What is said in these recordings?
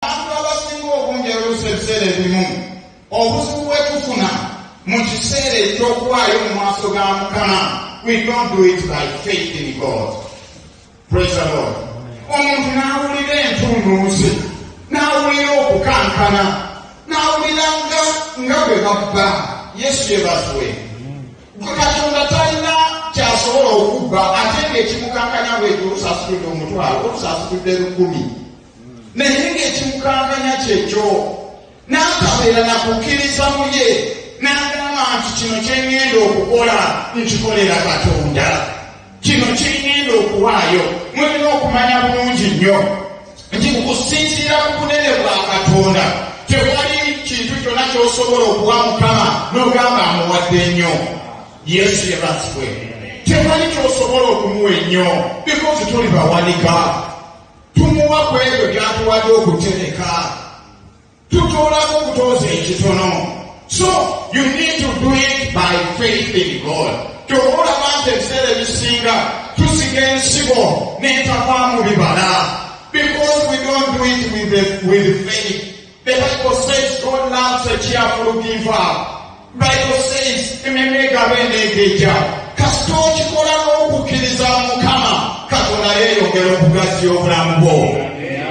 Abantu abasinga obungi oluusi ebiseera ebimu obuzibu bwe tufuna mu kiseera eky'okuwaayo mu maaso ga Mukama, we don't do it by faith in God. Praise the Lord. Omuntu n'awulira entunnunsi, n'awulira okukankana, n'awulira nga nga bwe babba Yesu yebazwe. Katonda talina kyasobola okubba ate ng'ekimukankanya bwekyo olusasudde omutwalo olusasudde lukumi. naye ng'ekimukankanya kyekyo n'atabeera na kukkiriza mu ye n'agamba nti kino kye ŋŋenda okukola nkikolera katonda kino kye ŋŋenda okuwaayo mulina okumanya bulungi nnyo nti mu kusinziira ku bunene bwa katonda tewali kintu kyonna ky'osobola okuwa mukama n'ogamba amuwadde ennyo yesu yebazibwe tewali ky'osobola okumuwa ennyo bikozi tuli bawanika tumuwa ku ebyo byatuwadde okutereka tutoolako okutooza ekitono so you need to do it by faith in god kyova olaba nti ebiseera ebisinga tusiga ensigo n'entavaamu bibala because we don't do it with, the, with faith The Bible says God loves a cheerful giver. Bible says ememe egaba eneegeja kasita okikola n'okukkiriza mukama katonda yeeyongera okugaziya obulamu bwo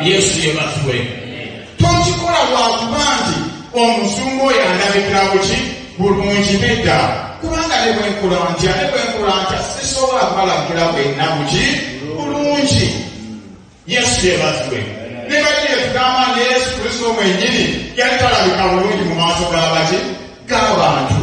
yesu yebazwe tokikola lwakuba nti omuzungu oyo andabikira buki bulungi nedda kubanga ne bwenkola ntya ne bwenkola ntya sisobola kubalabikira bwenna buki bulungi yesu yebazibwe nebaki yetugamba nti yesu kristo mwenyini yali talabika bulungi mu maaso gabaki gabantu